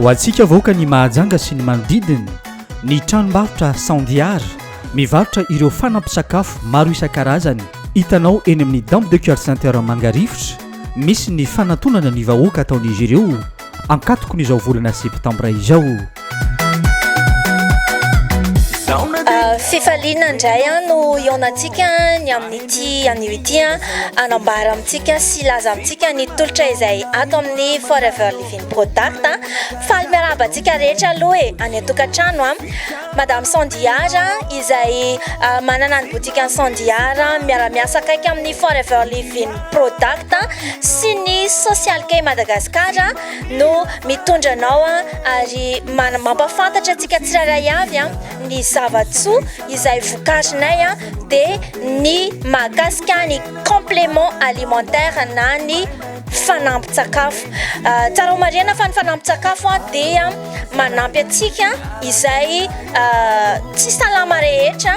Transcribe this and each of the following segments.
ho antsika vahoaka ny mahajanga sy ny manodidiny ny tranombarotra sandiara mivarotra ireo fanampisakafo maro isan-karazany hitanao eny amin'ny damp de coeur center mangarivotra misy ny fanatonana ny vahoaka ataon'izy ireo ankatokon'izao volana septambra izao. Ah, fifaliana indray an no ionantsika ny amin'ity anio ity an anambara amintsika sy laza amintsika ny tolotra izay ato amin'ny forever living product an faly miarahaba antsika rehetra aloha e any an-tokantrano an madame sandiara izay ah, manana ny botika ny sandiara miara-miasa akaiky amin'ny forever living Product sy ny Social Key Madagascar no mitondra anao ary mampahafantatra antsika tsirairay avy ny zava-tsoa izay vokarinay dia ny mahakasika ny complément alimentaire na ny fanampin-tsakafo. Tsara ho marihina fa ny fanampin-tsakafo dia manampy antsika izay tsy salama rehetra.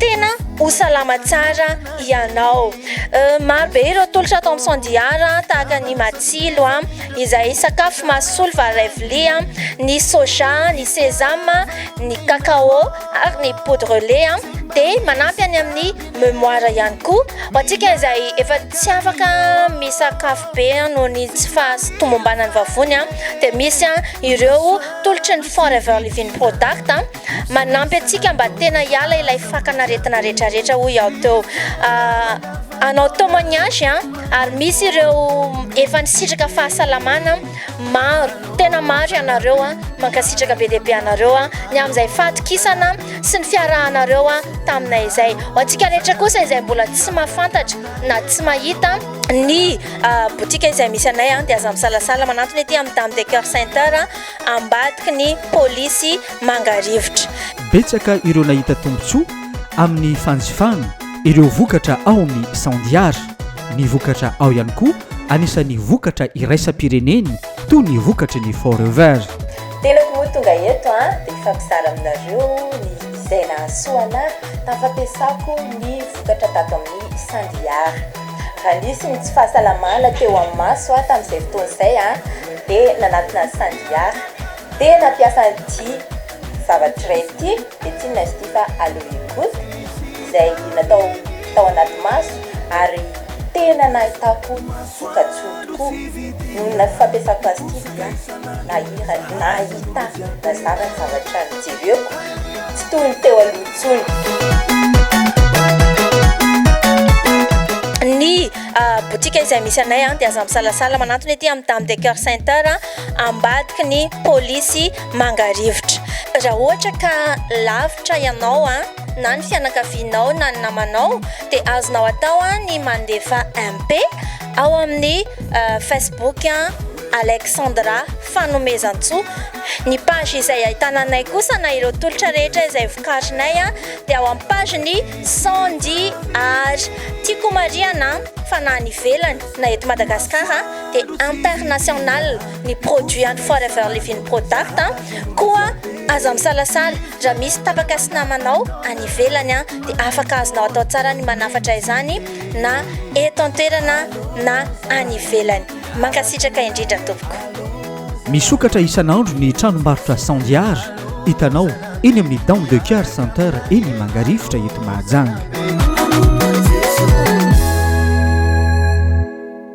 Tena ho salama tsara ianao. Maro be ireo tolotra ato amin'ny Sandiara tahaka ny matsilo izay sakafo mahasolo vary iray vilia, ny soja, ny sésame, ny cacao ary ny poudre lait dia manampy any amin'ny mémoire ihany koa. Ho antsika izay efa tsy afaka misakafo be noho ny tsy fahatomombanan'ny vavony dia misy ireo tolotry ny Forever Living Product. Manampy antsika mba tena hiala ilay fakan'aretina rehetra rehetra hoy aho teo. Hanao témoignage an, ary misy ireo efa nisitraka fahasalamana maro, tena maro ianareo an, mankasitraka be dia be anareo an, ny amin'izay fahatokisana sy ny fiarahanareo an taminay izay. Ho antsika rehetra kosa izay mbola tsy mahafantatra na tsy mahita ny botika izay misy anay an, dia aza misalasala manantona ety amin'ny Dame de Coeur Center. ambadiky ny polisy mangarivotra. Betsaka ireo nahita tombontsoa amin'ny fanjifana ireo vokatra ao amin'ny Sandiara ny vokatra ao ihany koa anisan'ny vokatra iraisam-pireneny toy ny vokatry ny Forever. Tenako moa tonga eto an dia hifampizara aminareo ny izay nahasoa anahy tamin'ny fampiasako ny vokatra tato amin'ny Sandiara. Raha nisy ny tsy fahasalamana teo amin'ny maso aho tamin'izay fotoana izay dia nanatona an'i Sandiara. Dia nampiasa an'ity zavatra iray ity, dia tsinona izy ity fa Aloe Good izay natao tao anaty maso ary tena nahitako voka-tsoa tokoa noho ny fampiasako azy ity dia. Nahira, nahita, nazara ny zavatra nijereko, tsy toy ny teo aloha intsony. Ny boutique izay misy anay dia aza misalasala manantona ety amin'ny Dame de Coeur Center ambadiky ny polisy Mangarivotra. Raha ohatra ka lavitra ianao na ny fianakavianao na ny namanao dia azonao atao ny mandefa MP ao amin'ny Facebook. Alexandra Fanomezantsoa. Ny page izay ahitana anay kosa na ireo tolotra rehetra izay vokarinay dia ao amin'ny page ny Sandy Art. Tiako homarihana fa na any ivelany na eto Madagasikara dia international ny produit an'ny Forever Living Product koa aza misalasala raha misy tapaka sy namanao any ivelany dia afaka azonao atao tsara ny manafatra izany na eto an-toerana na any ivelany. Mankasitraka indrindra tompoko. Misokatra isan'andro ny tranombarotra Sandiar hitanao eny amin'ny Dome de Coeur Center eny Mangarivotra eto Mahajanga.